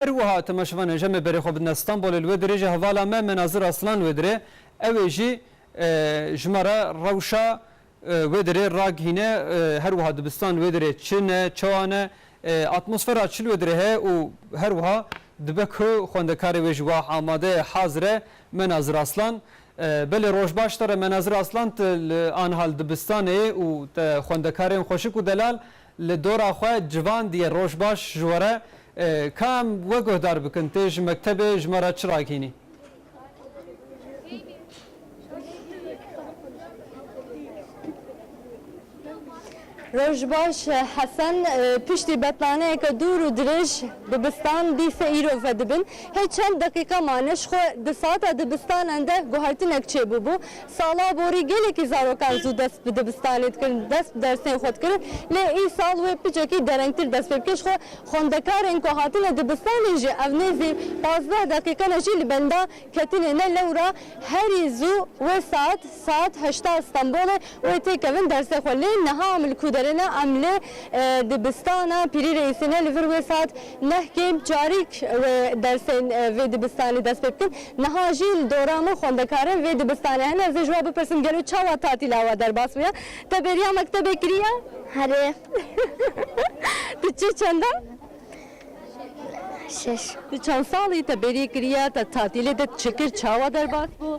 Her wiha temaşevanên jemê berê xwe bidine Stenbolê li wê dirê jî hevala me Menazir Aslan wê dirê ewê jî ji me re rewşa wê dirê ragihîne her wiha dibistan wê dirê çi ne çawa ne atmosfera çi li wê dirê heye û her wiha dibe ku xwendekarê wê ji wah amade ye hazir e Menazir Aslan Belê roj baş te re Menazir Aslan tu li anihal dibistanê yê û te xwendekarên xweşik û delal Li dora xwe civandiye roj baş ji were ka em we guhdar bikin tê ji mektebê ji me re çi ragihînî. Roj baş Hesen, piştî betlaneyeke dûr û dirêj dibistan dîse îro vedibin. Hê çend deqîqe mane ji xwe di saeta dibistanan de guhertinek çêbûbû. Sala borî gelekî zarokan zû dest bi dibistanê dikirin, dest bi dersên xwe dikirin lê îsal wê picekî derengtir dest pê bike ji xwe. Xwendekarên ku hatine dibistanê jî ev nêzî pazdeh deqîqe ne jî li benda ketinê ne lewra herî zû wê saet saet heşta li Stenbolê wê tê kevin dersê xwe lê niha em li ku derê ne em li dibistana Pîrî Reîsê ne li vir wê saet Neh kêm carîk wê dersên vê dibistanê dest pê bikin. Niha jî li dora min xwendekarên vê dibistanê hene. Ez ê ji wan bipirsim gelo çawa tatîla we derbas bûye? Te bêriya mektebê kiriye? Herê. Tu çi çend e? Şeş. Tu çend sal î? Te bêrî kiriye? Te tatîlê te çi kir? Çawa derbas bû?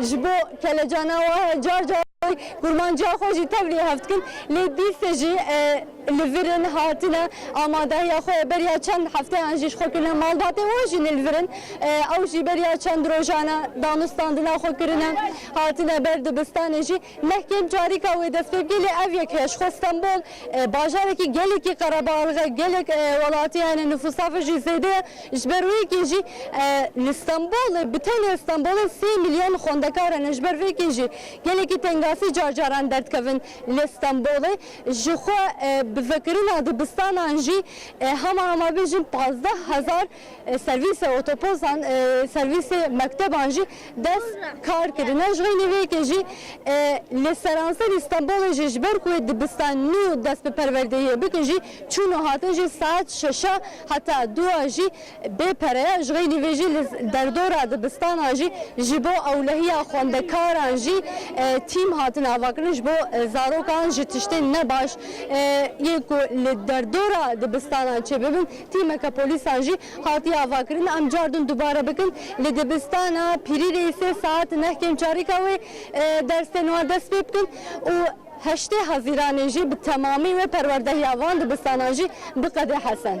Ji bo kelecana we car car jî kurmanciya xwe jî tevlî hev dikin. Lê dîsê jî li vir in, hatine amadehiya xwe ye. Beriya çend hefteyan jî ji xwe kirine. Malbatên we jî ne li vir in. Ew jî beriya çend rojan e danûstandina xwe kirine. Hatine ber dibistanê jî. Neh kêm carîka wê dest pê bike. Lê ev yek heye. Ji xwe Stenbol bajarekî gelekî qerebalix e. Gelek welatî hene nifûsa vir jî zêde ye. Ji ber wê yekê jî li Stenbolê bi tenê Stenbolê sê milyon xwendekar hene. Ji ber vê yekê jî gelekî tengasî car caran derdikevin li Stenbolê. Ji xwe bi vekirina dibistanan jî hema hema bêjin pazdeh hezar servîsê otoposan, servîsê mekteban jî dest kar kirine. Ji xeynî vê yekê jî li seranserî Stenbolê jî ji ber ku wê dibistan nû dest bi perwerdeyiyê bikin jî çûn û hatin jî saet şeş a. Heta dûa jî bê pere ye. Ji xeynî vê jî li derdora dibistanan jî ji bo ewlehiya xwendekaran jî tîm hatin avakirin ji bo zarokan ji tiştên ne baş yên ku li derdora dibistanan çêbibin tîmeke polîsan jî hatiye avakirin. Em car din dubare bikin li dibistana Pirîrê sê saet neh kêm çarîka wê dersên wan dest pê bikin û. Heştê Hezîranê jî bi temamî wê perwerdehiya van dibistanan jî biqede Hesen.